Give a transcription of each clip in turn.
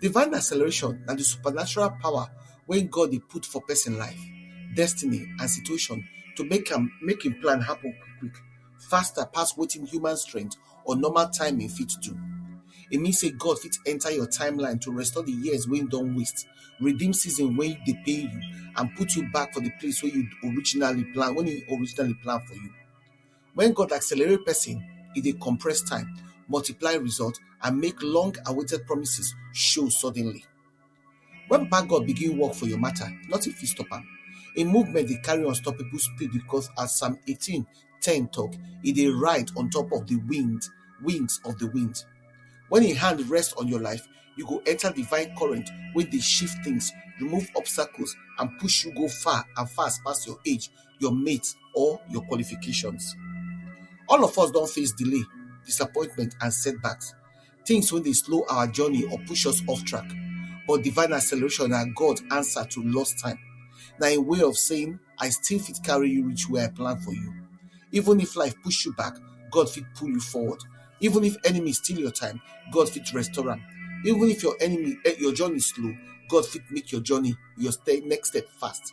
Divine acceleration na di supernatural power wey God dey put for pesin life, destiny and situation to make am make im plan happen quick quick, faster pass wetin human strength or normal timing fit do. E mean sey God fit enter your time line to restore di years wey you don waste, redeem season wey dey pain you and put you back for di place wey you originally plan wey im originally plan for you. When God accelerate person, e dey compress time, multiply result, and make long-awaited promises show suddenly. When Papa God begin work for your matter, nothing fit stop am. Im movement dey carry unstoppable speed because as Psalm 18, 10 talk, e dey ride on top of the wind, wings of the wind. When im hand rest on your life, you go enter divine current wey dey shift things, remove obstacles, and push you go far and fast pass your age your mate, or your qualifications. All of us don face delay, disappointment, and setbacks, things wey dey slow our journey or push us off track. But divine acceleration na God answer to lost time. Na a way of saying, I still fit carry you reach where I plan for you. Even if life push you back, God fit pull you forward. Even if enemy steal your time, God fit restore am. Even if your enemy, eh, your journey slow, God fit make your journey, your step, next step fast.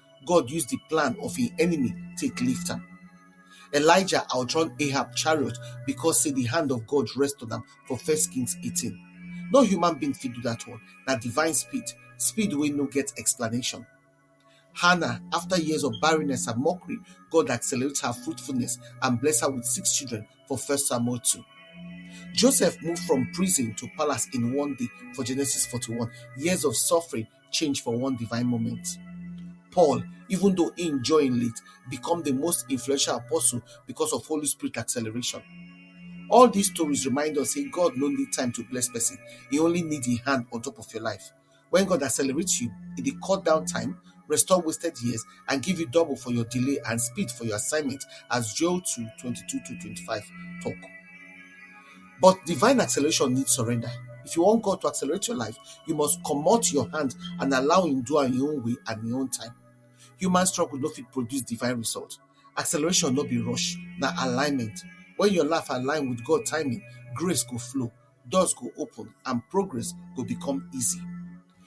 God use the plan of him enemy take lift am. Elijah outrun Ahab chariot because say the hand of God rest on am for First Kings 18. No human being fit do that one. Na divine speed, speed wey no get explanation. Hannah, after years of barrenness and mockery, God accelerates her fruitfulness and bless her with six children for First Samuel 2. Joseph moved from prison to palace in one day for Genesis 41. Years of suffering, change for one divine moment. Paul, even though he joined late, become the most influential apostle because of Holy Spirit acceleration. All these stories remind us say God no need time to bless person. He only need the hand on top of your life. When God accelerates you, it dey cut down time, restore wasted years, and give you double for your delay and speed for your assignment, as Joel 2, 22 to 25 talk. But divine acceleration needs surrender. If you want God to accelerate your life, you must come out your hand and allow Him do on your own way and your own time. Human struggle no fit produce divine result. Acceleration no be rush, na alignment. When your life align with God timing, grace go flow, doors go open, and progress go become easy.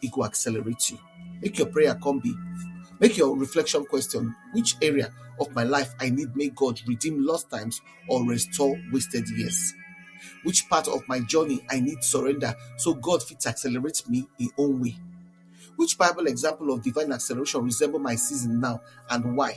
He go accelerate you. Make your prayer come be. Make your reflection question which area of my life I need make God redeem lost times or restore wasted years? Which part of my journey I need surrender so God fits accelerate me in own way? Which Bible example of divine acceleration resemble my season now and why?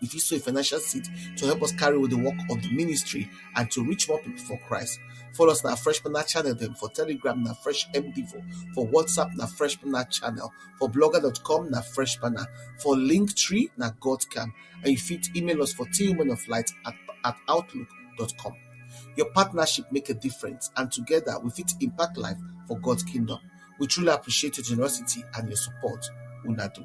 You fit sow a financial seed to help us carry with the work of the ministry and to reach more people for Christ. Follow us on our Fresh Manna channel then for Telegram, na Fresh MDivo, for WhatsApp, na Fresh Manna channel, for blogger.com, na Fresh Manna, for Linktree, na Godcam. And you fit email us for twomenoflight at, at outlook.com. Your partnership make a difference, and together we fit impact life for God's kingdom. We truly appreciate your generosity and your support. Unadu.